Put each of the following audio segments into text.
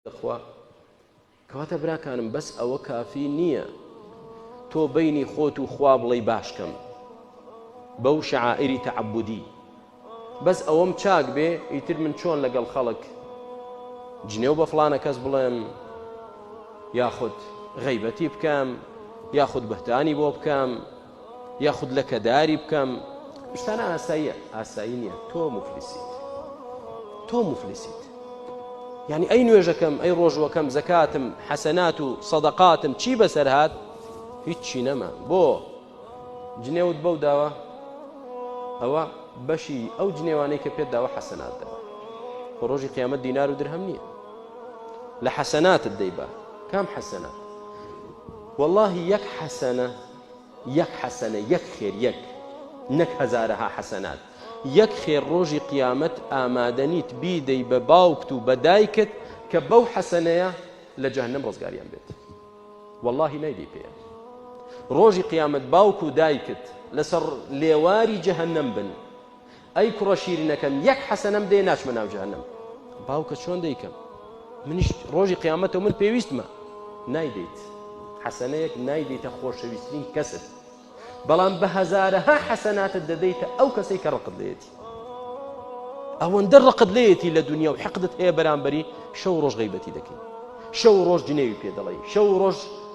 تخوا کەواتە براکانم بەس ئەوە کافی نییە تۆ بینی خۆت و خوا بڵی باشکەم بەو شعائری تەعبودی بەس ئەوەم چاک بێ ئیتر من چۆن لەگەڵ خەڵک جنێو بە فلانە کەس بڵێم یاخود غیبەتی بکەم یاخود بەهدانی بۆ بکەم یاخود لەکەداری بکەم شتانە ئاساییە ئاسایی نییە تۆ مفلیسیت تۆ مفلیسیت یعنی ئەی نوێژەکەم ئەی ڕۆژوەکەم زەکاتم حەسەنات و سەدەقاتم چی بەسەر هاات هیچی نەما بۆ جنێوت بەو داوە ئەوە بەشی ئەو جنێوانەی کە پێت داوە حەسەنات دەبە بە ڕۆژی قیامە دینار و درهم نییە لە حەسەناتت دەیبا کام حەسەنات واللهی یەک حەسەنە یەک حەسەنە یەک خێر یەک نەک هەزارەها حەسەنات یەک خێر ڕۆژی قیامەت ئامادەنیت بیدەی بە باوکت و بە دایکت کە بەو حەسەنەیە لە جەهنم ڕزگاریان بێت واللهی نایدی پێ ڕۆژی قیامەت باوک و دایکت لەسەر لێواری جەهنم بن ئەی کوڕە شیرنەکەم یەک حەسەنەم دێ ناچمە ناو جەهەنەم باوکە چۆن دەیکەم منیش ڕۆژی قیامەتەوە من پێویستمە نایدەیت حەسەنەیەک نایدەیتە خۆشەویسترین کەست بەڵام بە هەزارەها حەسەناتت دەدەیتە ئەو کەسەی کە ڕقت لێتی ئەوەندە ڕقت لێتی لە دنیا و حقدت هەیە بەرامبەری شەو ڕۆژ غیبەتی دەکەین شەو ڕۆژ جنێوی پێ دەڵێ شەو ڕۆژ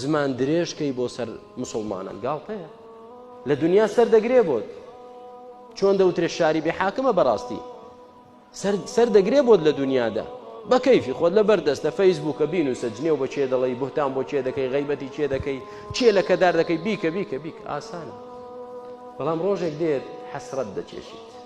زمان درێژ کەی بۆ سەر مسلمانان گاڵتەیە لە دنیا سەر دەگرێ بۆت چۆن دەوترێ شاری بێ حاکمە بەڕاستی سەر دەگرێ بۆت لە دنیادا بە کەیفی خۆت لە بەردەستە فەیسبووکە بین و سەجنێ و بە چێ دەڵی بهتان بۆ چێ دەکەی غیبەتی چێ دەکەی چێ لە کەدار دەکەی بیکە بیکە بیک ئاسانە بەڵام ڕۆژێک دێت حەسرەت دەچێشیت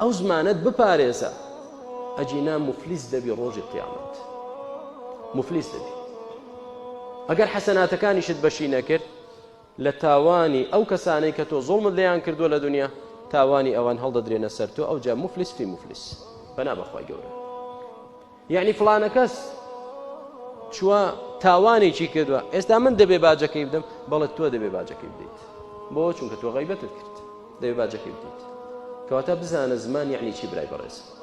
ئەو زمانەت بپارێزە ئەگینا موفلیس دەبی ڕۆژی قیامەت موفلیس دەبی ئەگەر حەسەناتەکانیشت بەشی نەکرد لە تاوانی ئەو کەسانەی کە تۆ زۆڵمت لێیان کردووە لە دنیا تاوانی ئەوان هەڵدەدرێنە سەر تۆ ئەو جا مفلس فی مفلس بەنا بەخوای گەورە یەعنی فڵانەکەس چووە تاوانێکی کردووە ئێستا من دەبێ باجەکەی بدەم بەڵێت تۆ دەبێ باجەکەی بدەیت بۆ چونکە تۆ غیبەتت کرد دەبێ باجەکەی بدەیت کەواتە بزانە زمان یعنی چی برای بەڕێز